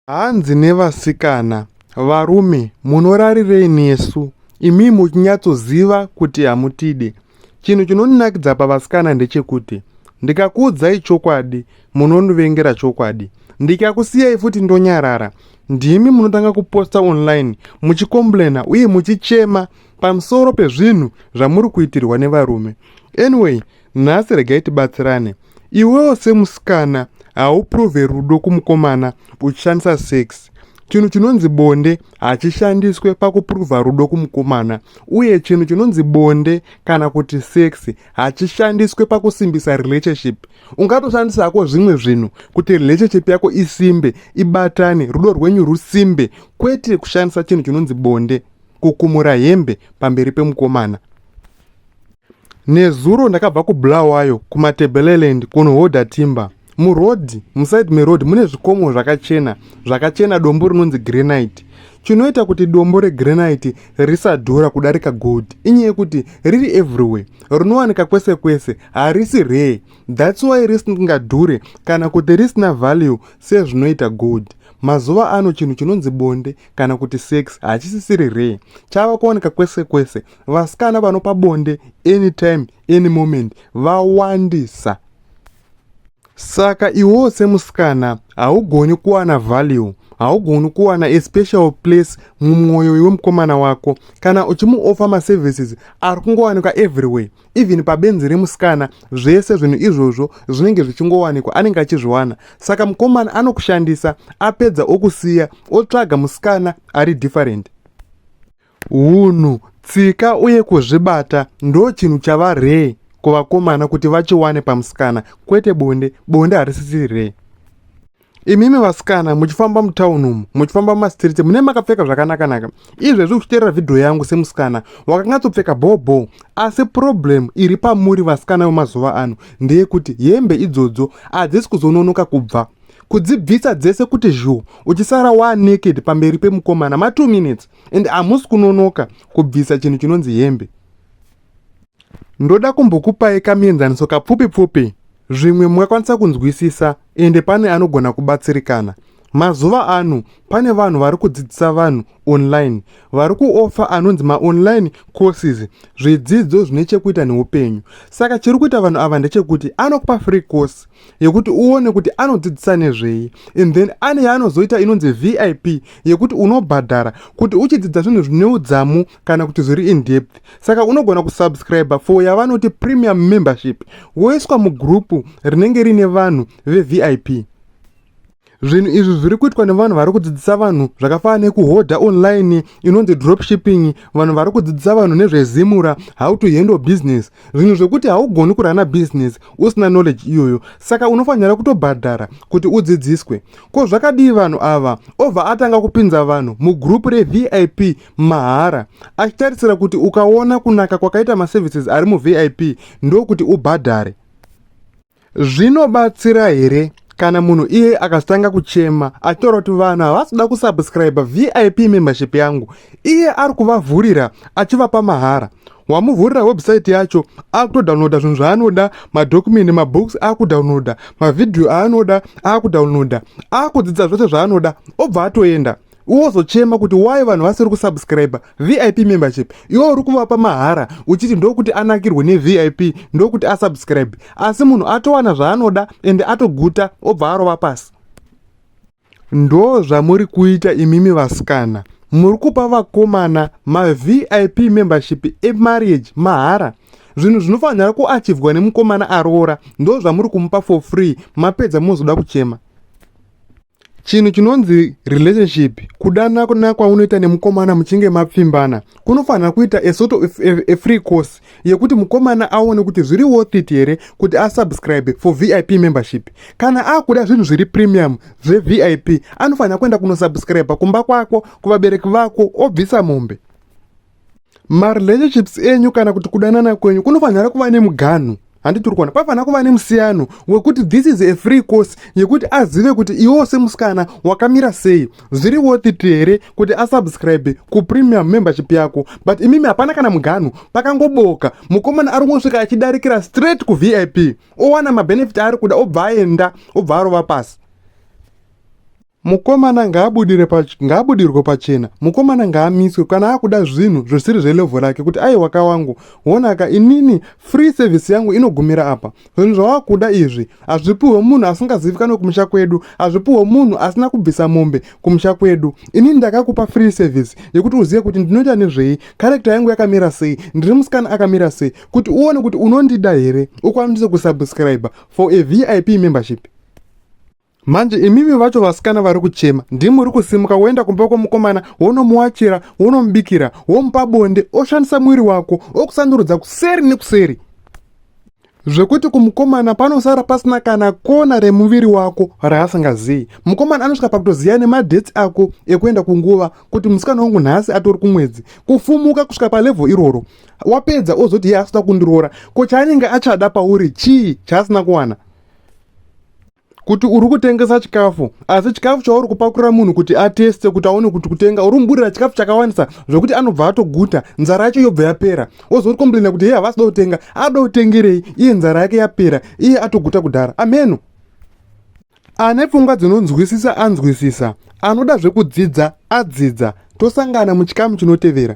Hanzi nevasikana, Varume, munorarirei nesu? Imi muchinyatsoziva kuti hamutide. Chinhu chinondinakidza pavasikana ndechekuti ndikakuudzai chokwadi munondivengera chokwadi ndikakusiyai futi ndonyarara ndimi munotanga kuposta online muchikomblena uye muchichema pamusoro pezvinhu zvamuri kuitirwa nevarume anyway nhasi regai tibatsirane iwewo semusikana hauprove rudo kumukomana uchishandisa sex chinhu chinonzi bonde hachishandiswe pakupruvha rudo kumukomana uye chinhu chinonzi bonde kana kuti sex hachishandiswe pakusimbisa relationship ungatoshandisa hako zvimwe zvinhu kuti relationship yako isimbe ibatane rudo rwenyu rusimbe kwete kushandisa chinhu chinonzi bonde kukumura hembe pamberi pemukomana Nezuro ndakabva kuBulawayo kuMatebeleland kunohodha timber. Muroad, muside meroad mune zvikomo zvakachena, zvakachena dombo rinonzi granite. Chinoita kuti dombo regranite risadhura kudarika gold inyaya yekuti riri everywhere, rinowanika kwese kwese, harisi rare. That's why risingadhure kana kuti risina value sezvinoita gold. Mazuva ano chinhu chinonzi bonde kana kuti sex hachisisiri rare, chava kuwanika kwese kwese vasikana vanopa bonde anytime any moment vawandisa saka iwewo semusikana haugoni kuwana value haugoni kuwana a special place mumwoyo wemukomana wako kana uchimuofa maservices ari kungowanikwa everywhere even pabenzi remusikana zvese zvinhu izvozvo zvinenge zvichingowanikwa anenge achizviwana saka mukomana anokushandisa apedza okusiya otsvaga musikana ari different Hunhu, tsika uye kuzvibata ndochinhu chava hre kuvakomana kuti vachiwane pamusikana kwete bonde, bonde harisisi hre. Imimi vasikana muchifamba mutown umu muchifamba mumastreet mune makapfeka zvakanakanaka izvezvi uchiteerera vhidhiyo yangu semusikana wakangatsopfeka bhobho asi problem iri pamuri vasikana vemazuva ano ndeyekuti hembe idzodzo hadzisi kuzononoka kubva kudzibvisa dzese kuti zhu uchisara waa naked pamberi pemukomana ma two minutes and hamusi kunonoka kubvisa chinhu chinonzi hembe ndoda kumbokupai kamienzaniso kapfupi pfupi zvimwe mungakwanisa kunzwisisa ende pane anogona kubatsirikana mazuva ano pane vanhu vari kudzidzisa vanhu online vari kuofa anonzi maonline courses zvidzidzo zvine chekuita neupenyu saka chiri kuita vanhu ava ndechekuti anokupa free course yekuti uone kuti anodzidzisa nezvei and then ane yaanozoita inonzi vip yekuti unobhadhara kuti uchidzidza zvinhu zvine udzamu kana kuti zviri indepth saka unogona kusubscribe for yavanoti premium membership woiswa mugrupu rinenge riine vanhu vevip Zvinhu izvi zviri kuitwa nevanhu vari kudzidzisa vanhu zvakafanana nekuhodha online inonzi dropshipping, vanhu vari kudzidzisa vanhu nezvezimura, how to handle business, zvinhu zvekuti haugoni kurana business usina knowledge iyoyo, saka unofanira kutobhadhara kuti udzidziswe. Ko zvakadii vanhu ava? Obva atanga kupinza vanhu mugroup reVIP mahara achitarisira kuti ukaona kunaka kwakaita maservices ari muVIP ndokuti ubhadhare. zvinobatsira here kana munhu iye akatanga kuchema ataura kuti vanhu havasi kuda kusubscribe vip membership yangu iye ari kuvavhurira achivapa mahara wamuvhurira website yacho akutodownloada zvinhu zvaanoda madokumenti mabooks akudownloada mavhidhiyo aanoda akudownloada akudzidza zvose zvaanoda obva atoenda wozochema kuti why vanhu vasiri kusubscribe vip membership iwo uri kuvapa mahara uchiti ndokuti anakirwe nevip ndokuti asubscribe asi munhu atowana zvaanoda ende atoguta obva arova pasi ndo zvamuri kuita imimi vasikana muri kupa vakomana mavip membership emarriage mahara zvinhu zvinofanira kuachivhwa nemukomana aroora ndo zvamuri kumupa for free mapedza mozoda kuchema Chinhu chinonzi relationship, kudana kuna kwaunoita nemukomana muchinge mapfimbana, kunofanira kuita a sort of a, a free course yekuti mukomana aone kuti zviri worth it here kuti asubscribe for VIP membership. Kana akuda zvinhu zviri premium zveVIP, anofanira kuenda kunosubscribe kumba kwako, kuvabereki vako, obvisa mombe. marelationships enyu kana kuti kudanana kwenyu kunofanira kuva nemuganhu handiti uri kuona pafanira kuva nemusiyano wekuti this is a free course yekuti azive kuti iwewo semusikana wakamira sei zviri worthit here kuti asubscribe kupremium membership yako but imimi hapana kana muganhu pakangoboka mukomana ari kungosvika achidarikira straight kuvip owana mabenefit aari kuda obva aenda obva arova pasi Mukomana ngaabudire pac ngaabudirwe pachena mukomana ngaamiswe kana akuda zvinhu zvisiri zvelevel rake kuti aiwa ka wangu wona ka inini free service yangu inogumira apa zvinhu zvawakuda izvi hazvipuhwe munhu asingazivikanwe kumusha kwedu hazvipuhwe munhu asina kubvisa mombe kumusha kwedu inini ndakakupa free service yekuti uzive kuti ndinoita nezvei character yangu yakamira sei ndiri musikana akamira sei kuti uone kuti unondida here ukwanise kusubscriber for a vip membership manje imimi vacho vasikana vari kuchema ndimi uri kusimuka woenda kumba kwomukomana wonomuwachira wonomubikira womupa bonde oshandisa muviri wako okusandurudza kuseri nekuseri zvekuti kumukomana panosara pasina kana kona remuviri wako raasingazivi mukomana anosvika pakutoziva nemadheti ako ekuenda kunguva kuti musikana wangu nhasi atori kumwedzi kufumuka kusvika palevho iroro wapedza ozoti iye asida kundiroora ko chaanenge achada pauri chii chaasina kuwana kuti uri kutengesa chikafu asi chikafu chauri kupakurira munhu kuti ateste kuti aone kuti kutenga uri muburira chikafu chakawandisa zvokuti anobva atoguta nzara yacho yobva yapera wozoti komplaina kuti hei havasida kutenga ada kutengerei iye nzara yake yapera iye atoguta kudhara amheno ane pfungwa dzinonzwisisa anzwisisa anoda zvekudzidza adzidza tosangana muchikamu chinotevera